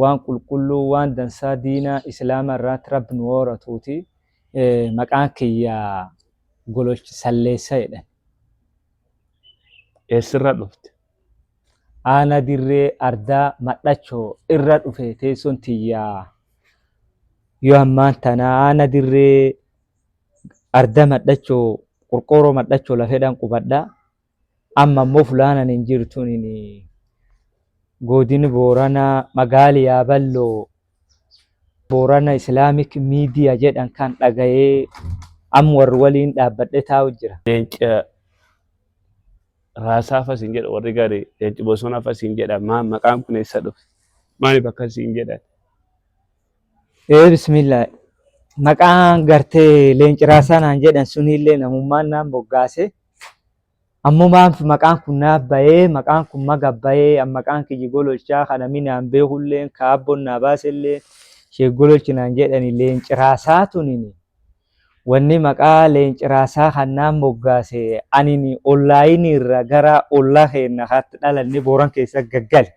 waan qulqulluu waan dansaa diinaa islaama irraatti rabbi nu hooratuuti maqaan kiyya gololch salleessa jedhan eessirra dhufte aana dirree ardaa madhachoo irra dhufe teessoon tiyya yoo ammaan tana aana dirree arda madhachoo qorqooroo madhachoo lafedhan qubadha Amma immoo fulaan ani hin jiru tunini Godini Booranaa magaali Yaaballoo Boorana Islaamik Miidiya jedhan kan dhagayee am warri waliin dhaabbadhe taa'u jira. Leenca raasaa fa siin jedha warri gari leenci bosona fa siin jedha maal maqaan kun eessa dhufe maaliif akkas siin jedhan Ee bismillah maqaan gartee leenci raasaa naan jedhan suniillee namummaan naan moggaase. Ammoo maaf maqaan kun naaf bayee, maqaan kun maga bayee, an maqaan kiyyi gololchaa ka nami naan beekulleen, ka aabboon naa baaselleen sheek gololchi naan jedhani leenci raasaa tunini. Wanni maqaa leenci raasaa kan naan moggaase anini ollaayini irra gara ollaa keenna kaatti dhalanne booran keessa gaggale.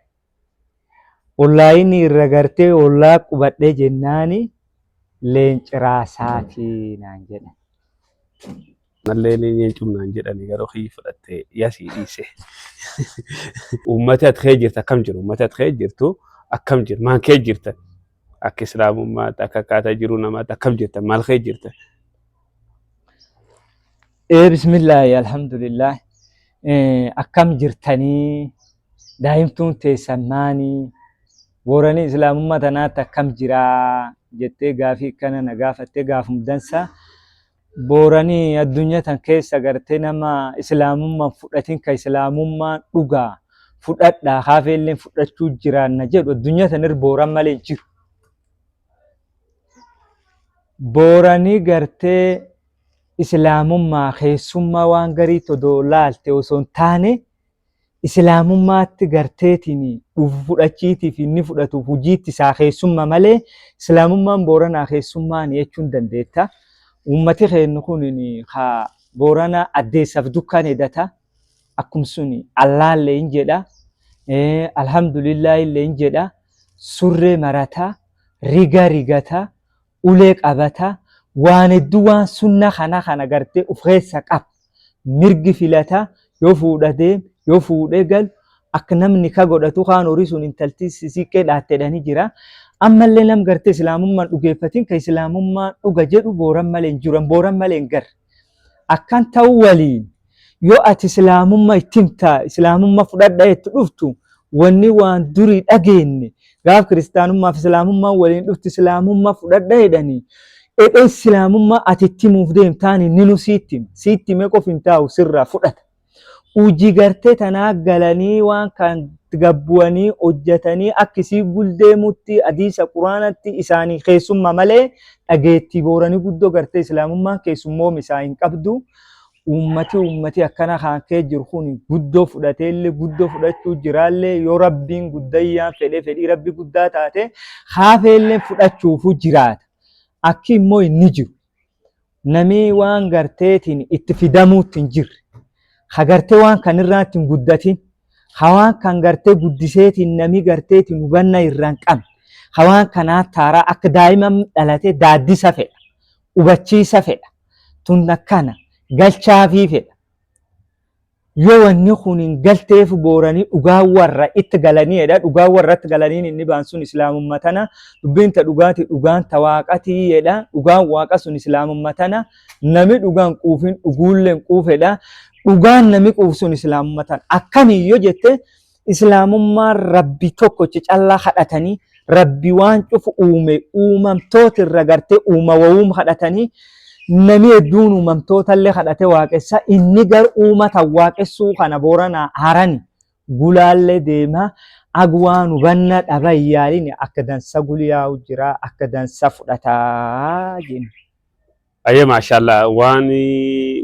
Ollaayini irra gartee ollaa qubadhe jennaani leenci raasaati naan jedhan. Mallee ni nyeencum naan jedhani garuu kiyyi fudhatte yasii dhiise. Uummati ati kee jirtu akkam jiru? Uummati ati kee jirtu akkam jiru? Maan kee jirtan? Akka islaamummaatti akka akkaataa jiruu namaatti akkam jirtan? Maal kee jirtan? Ee bismillaahi alhamdulillah akkam jirtanii daa'imtuun teessan maanii booranii islaamummaa tanaatti akkam jiraa jettee gaafii akkana na gaafattee gaafum dansaa. Boorani addunya tan keessa garte nama islaamumma hin fudhatin ka islaamummaan dhugaa fudhadhaa ka hafeelleen fudhachuu jiraanna jedhu addunya tan irra booran malee hin jiru. Boorani gartee islaamummaa keessummaa waan gariitti odoo laalte osoo hin taane Islaamummaatti garteetiin dhufu fudhachiitii fi inni fudhatu hujiitti isaa keessumma malee Islaamummaan Booranaa keessummaani jechuun dandeetta. Uummati keennu kun ka Boorana addeessaf dukkan edata. Akkum sun Allaallee hin jedha. Alhamdulillah illee hin jedha. Surree marata. Riga rigata. ulee qabata waan hedduu waan sunna kana kana gartee uf keessa qaba mirgi filata yoo fuudha deem yoo fuudhee galu akka nam nika godhatu kaan horii sun intalti siiqqee dhaatte jedhanii jira ammallee nam gartee islaamummaan dhugeeffatiin ka islaamummaan dhuga jedhu booran malee hin jiru an booran malee hin garre akkan ta'u waliin yoo ati islaamumma itti himtaa islaamumma fudhadha itti dhuftu wanni waan durii dhageenne gaaf kiristaanummaaf islaamummaan waliin dhufti islaamumma fudhadha jedhanii edhee islaamummaa ati itti himuuf deemtaan inni nu siitti hima siitti himee qof hin taa'u sirraa fudhata Huji garte tana galani waan kaan gabbuani hojjatani aka isii gul deemuti hadiisa quranati isaani keessumma male d'ageeti boorani guddo garte islamuman keessummoma isaa inqabdu ummati ummati akana kaan kee jiru kuni guddo fud'ateele guddo fud'achu jiraale yo Rabbin guddayaan fed'e fed'i Rabbi gudda taate kaafeele fud'achuufu jiraata aki immo inni jiru namii waan garteetiin itti fidamuutti hin jirre ha gartee waan kan irraatti hin guddatin ha waan kan gartee guddiseetiin namii garteetiin hubanna irraan qabne ha waan kanaa taaraa akka daa'ima dhalatee daaddisa fedha hubachiisa fedha tun akkana galchaafii fedha yoo wanni kun hin galteef booranii dhugaa warra itti galaniidha dhugaa warra itti galaniin inni baan sun islaamumma tana dubbiin ta dhugaati dhugaan ta waaqatii jedha dhugaan waaqa sun islaamumma tana nami dhugaan quufiin dhuguulleen quufedha dhugaan nami quuf sun islaamumma tana akkamiin yoo jette Islaamummaan Rabbi tokkocha callaa kadhatanii Rabbi waan cufu uume uumamtoota irra gartee uuma wawuum kadhatanii namni hedduun uumamtoota illee kadhate waaqessa inni gar uumata waaqessuu kana booranaa harani gulaallee deemaa agwaan hubanna dhaba yaalin akka dansa guliyaa'u jira akka dansa fudhataa jenna. Ayyee maashaallah waan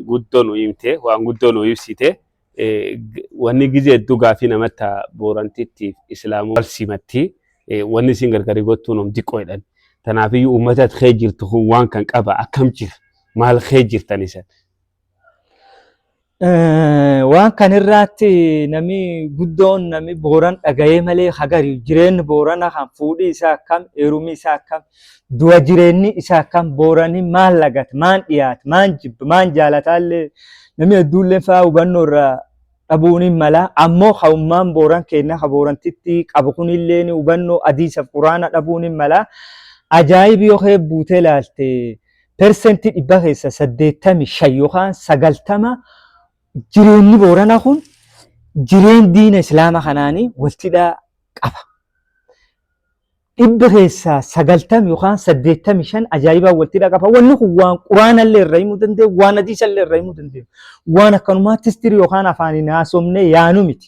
guddoo nu himte waan guddoo nu ibsite Eh, g- wanni gizee hedduu gaafii namatta boorantittiif islaamuu wal simatti Eh, wanni isin gargari gottuun om diqqoo jedhan tanaafiyyuu uummatat kee jirtu kun waan kan qaba akkam jira maal kee jirtan isan Waan kan irraatti nami guddoon nami booran dhaga'ee malee hagari jireenyi boorana kan fuudhi isaa akkam heerumi isaa akkam du'a jireenyi isaa akkam boorani maal lagata maan dhiyaata maan jibba maan jaalataallee nami hedduullee fa'aa hubannoo irraa dhabuun hin mala ammoo ka'ummaan booran keenya ka boorantitti qabu kunillee hubannoo adiisaaf quraana dhabuun hin mala ajaa'ibi yoo buutee ilaalte. persentii dhibbaa keessa saddeettami shan yookaan sagaltama jireenyi boorana kun jireen diina islaama kanaanii waltidhaa qaba. Dhibba keessaa sagaltam yookaan saddeettami shan ajaa'ibaa waltidhaa qaba. Wanni kun waan quraanallee irra himuu danda'u, waan hadiisallee irra himuu danda'u. Waan akkanumaatti histirii yookaan afaaniin haasofnee yaanu miti.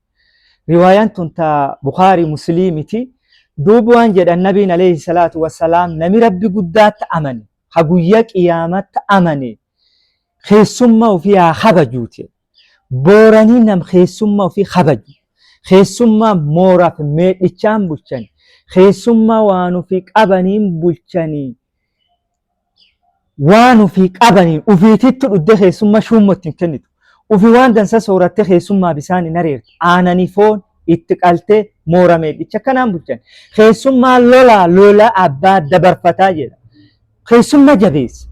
riwaayaan tun ta bukaarii musliimiti duub waan jedhan nabiin alayhi salaatu wassalaam nami rabbi guddaatta amane ha guyya qiyaamatta amane keessumma ufii haa kabajuuti booranii nam keessumma ufii kabaju keessummaa mooraaf meedhichaan bulchan keessummaa waan ufii qabaniin bulchanii waan ufii qabaniin ufiitittu dhudde keessumma shuummo ittiin kennitu. Ufi waan dansa sooratte keessummaa bisaan hin areertu. Aananii foon itti qaltee moora meedhicha kanaan bulchan. Keessummaa lolaa lola abbaa dabarfataa jedha. Keessumma jabeessa.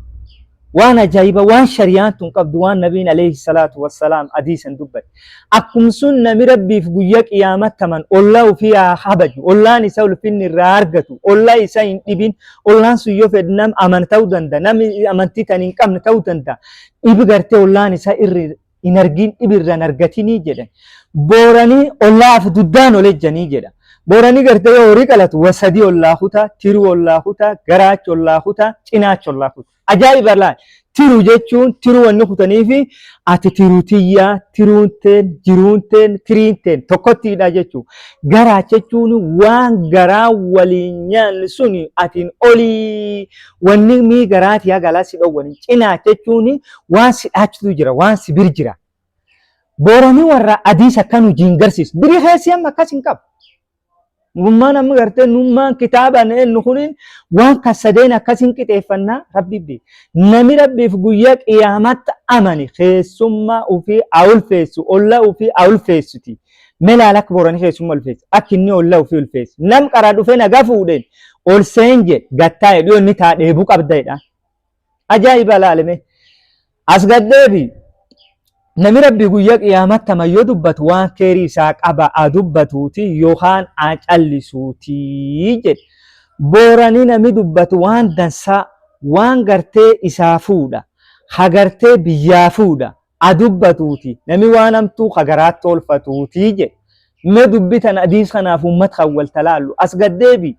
Waan ajaa'iba waan shariyaan tun qabdu waan nabiin alayhi salaatu wassalaam adiisan dubbate. Akkum sun nami Rabbiif guyya qiyaamat taman olla ufi ha kabaju, ollaan isa ulfinni irraa argatu, olla isa hin dhibin, ollaan sun yo fedh nam aman ta'u danda, nam amanti tan hin qabne ta'u danda, dhib garte ollaan isa irr hin argin dhib irra hin argatini jedhan. Boorani ollaaf duddaan ol ejjani jedha. Boorani garte yo hori qalatu wa sadi ollaa kuta, tiru ollaa kuta, garaacha ollaa kuta, cinaacha ollaa kuta. Ajaa'iba laal. Tiru jechuun tiru wanni kutaniifi ati tiru tiyyaa, tiruun teen, jiruun teen, tiriin teen tokkottiidha jechuu. Garaa jechuun waan garaa waliin nyaanni suni atiin olii wanni mii garaa tiyaa galaa si dhowwani. Cinaa jechuun waan si dhaachitu jira, waan si bir jira. Booranii warra adiis akkanu jiin garsiis. Biri keessi amma akkas hin qabu. Nurummaan amma gartee nurummaan kitaabaan eennu kuniin waan kan sadeen akkasiin qixeeffannaa rabbiif beeka. Nami rabbiif guyyaa qiyaamaatti amane keessummaa ofii haa ulfeessu, olla ofii haa ulfeessuti. Melaal akka boorani keessummaa ulfeessu, akka inni olla ofii ulfeessu. Nam qaraa dhufee nagaa fuudheen ol seen jedhe gattaa'e dhiyoo inni taa dheebuu qabda jedha. Ajaa'iba ilaalime. As gaddeebi. Nami rabbi guyya qiyaamatta mayyo dubbatu waan keerii isaa qaba a dubbatuuti yookaan a callisuuti jedhe. Boorani nami dubbatu waan dansaa waan gartee isaa fuudha. Hagartee biyyaa fuudha. a dubbatuuti nami waan hamtuu ka garaatti oolfatuuti jedhe me dubbi tana adiis kanaaf ummat kan wal talaallu as gaddeebi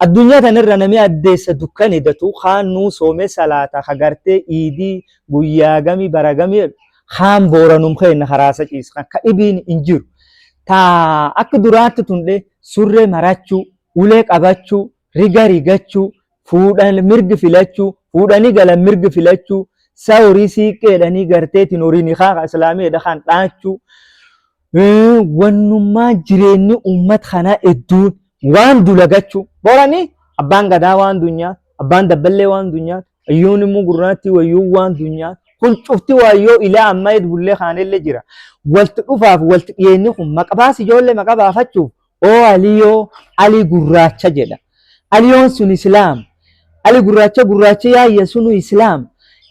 addunyaa tanirra nami addeessa dukkane datu kaan nuu soome salaata ka gartee iidii guyyaa gami bara gami jedhu kaan booranum keenna karaasa ciisa kan ka dhibiin hin jiru taa akka duraatti tundhe surree marachuu ulee qabachuu riga rigachuu fuudhan mirgi filachuu fuudhanii galan mirgi filachuu saa horii siiqqeedhanii garteetiin horiin kaa islaameedha kan dhaachuu wannummaa jireenyi uummat kanaa hedduun waan dulagachuu boranii abbaan gadaa waan dunyaa abbaan dabballee waan dunyaa ayyuun immoo gurraattii wayyuu waan dunyaa kun cufti waayyoo ilaa ammaa bullee kaanillee jira walti dhufaaf walti dhiyeenyi kun maqabaas ijoollee maqabaafachuuf Oo Aliyoo, Ali gurraacha jedha. Aliyoon sun Islaam. Ali gurraacha gurraacha yaayya sunu Islaam.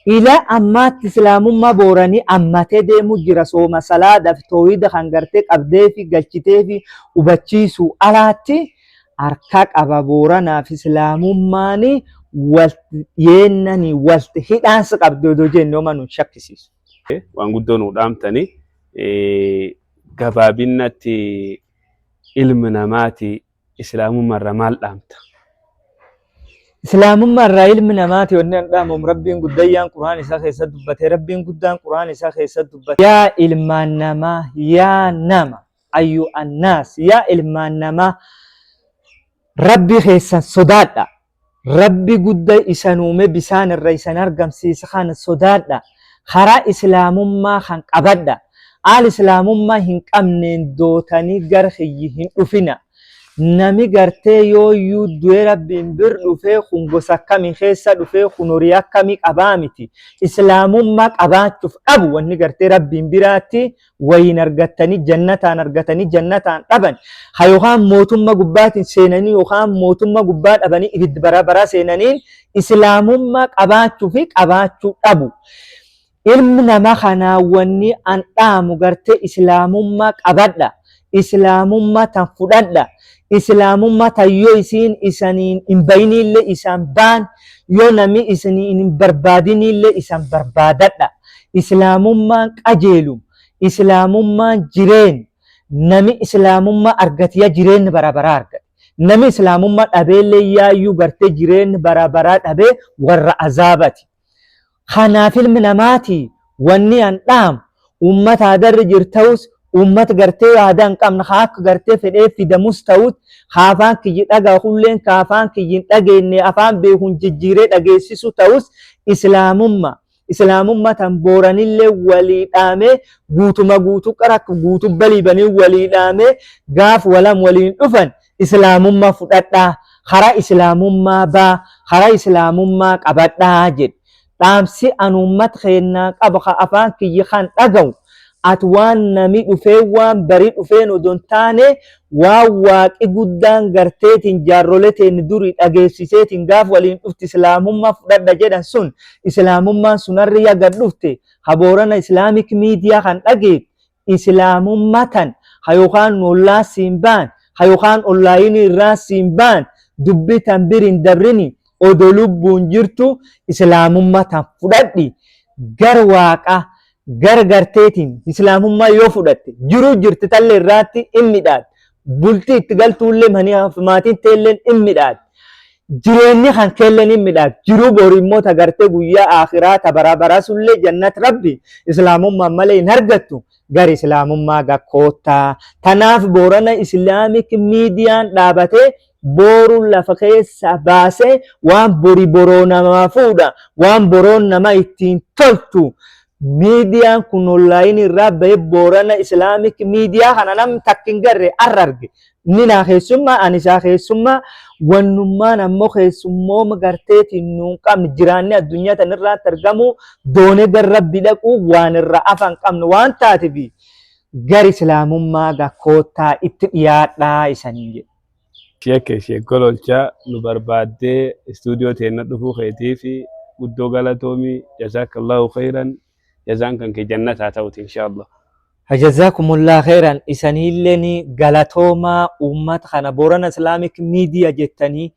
Ila ammaatti Islaamummaa Booranii ammatee deemuu jira sooma salaadhaaf toohida kan gartee qabdeefi galchiteefi hubachiisuu alaatti harka qaba Booranaaf Islaamummaani walti yeennani walti hidhaansa qabdi odoo jenne homa nun shakkisiisu. waan guddoo nuu dhaamtanii gabaabinnatti ilmi namaati islaamummaarra maal dhaamta? Islaamummaarraa ilmi namaati wanni an dhaamuum Rabbiin guddayyaan Qur'aan isaa keessa dubbate Rabbiin guddaan Qur'aan isaa keessa dubbate yaa ilmaan namaa yaa nama ayyu annaas yaa ilmaan namaa Rabbi keessan sodaadha. Rabbi gudda isan uume bisaan irra isan argamsiise kana sodaadha karaa islaamummaa kan qabadha aal islaamummaa hin qabneen dootani gar kiyyi hin dhufina nami gartee yooyyuu du'e rabbiin bir dhufee kun gosa akkami keessa dhufee kun horii akkami qabaa miti islaamummaa qabaachuf dhabu wanni gartee rabbiin biraatti wayiin argattanii jannataan argatanii jannataan dhaban ha yookaan mootummaa gubbaatiin seenanii yookaan mootummaa gubbaa dhabanii ibiddi bara baraa seenaniin islaamummaa qabaachuu fi qabaachuu dhabu. Ilmi nama kanaa wanni an dhaamu gartee islaamummaa qabadha. islaamumma tan fudhadha islaamumma tan yoo isiin isaniin hin bayiniille isaan baan yoo nami isiniin hin barbaadiniille isan barbaadadha islaamummaan qajeelum islaamummaan jireen nami islaamumma argatiya jireen bara bara argate nami islaamumma dhabeelle yaayyuu garte jireen bara bara dhabe warra azaabati Kanaaf ilmi namaati wanni an dhaamu ummata aadarra jiru ta'us ummata gartee aadaa hin qabne haa akka gartee fedhee fidamus ta'us haa afaan kiyyi dhagahu kulleen kaa afaan kiyyi hin dhageenne afaan beekun jijjiiree dhageessisu ta'us islaamumma islaamumma tan booranillee walii dhaamee guutuma guutu qarak guutu balibanii walii dhaamee gaaf walam waliin dhufan Islaamummaa fudhadhaa, karaa Islaamummaa baa, karaa Islaamummaa qabadhaa jedhe. Dhaamsi an ummata keennaa qabu ka afaan kiyya kan dhagahu at waan nami dhufeen waan bari dhufeen odoo hin taane waan waaqi guddaan garteetiin jaarrole teenna durii dhageessiseetiin gaaf waliin dhufti Islaamummaa fudhadha jedhan sun Islaamummaan sun harri ya gad dhufte ka Boorana Islaamic Miidiyaa kan dhageet Islaamumma tan ha yokaan nollaan siin baan ha yokaan online irraan siin baan dubbi tan bir hin dabrini odo lubbuun jirtu islaamumma tan fudhadhi gar waaqa gar garteetiin islaamumma yoo fudhatte jiruu jirti talle irraatti in midhaad bulti itti galtuulle mania fi maatiin teelleen in midhaad Jireenyi kan keelle ni midhaag jiruu bori immoo ta gartee guyyaa aakhiraa ta baraa baraa sullee jannat rabbi islaamummaan malee hin argattu gar islaamummaa ga koottaa tanaaf boorana islaamik miidiyaan dhaabatee booru lafa keessa baasee waan bori boroo namaa fuudha waan boroon nama ittiin toltu Miidiyaan kun online irraa bahe Boorana Islamic Miidiyaa kana nam takka hin garre arra arge. Inni naa keessummaa ani isaa keessummaa wannummaan ammoo keessummooma garteetiin nuun qabne jiraanni addunyaa tan irraatti argamuu doonee gar rabbi dhaquu waan irra afaan qabne waan taatifi gar islaamummaa ga koottaa itti dhiyaadhaa isaniin jedhe. Sheekke Sheek Gololchaa nu barbaaddee istuudiyoo teenna dhufuu keetiif guddoo galatoomi. Jazaakallaahu kheeyran. Jazaan kan kee jannata haa ta'uuti inshaallah. Jazakumullaah kheeyran isaniilleen galatoomaa uummat kana Boorana Islamic Media jettanii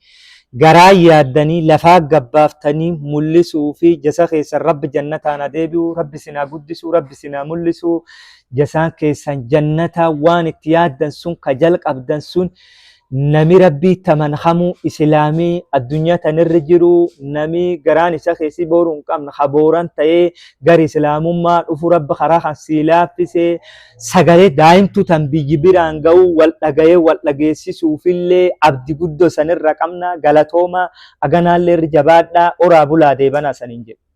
garaa yaaddanii lafaa gad baaftanii mullisuufi jasa keessan rabbi jannataan haa deebi'u rabbi isin haa guddisu rabbi isin haa mullisu jasaan keessan jannataa waan itti yaaddan sun ka jalqabdan sun nami rabbii taman hamuu islaamii addunyaa tanirra jiru nami garaan isa keessi booruu hin qabne ha booran ta'ee gar islaamummaa dhufu rabbi karaa kan sii laaffise sagalee daa'imtu tan biyyi biraan ga'uu wal dhaga'ee wal dhageessisuufillee abdi guddoo sanirra qabna galatooma aganaallee irra jabaadhaa oraa bulaa deebanaa saniin jedhu.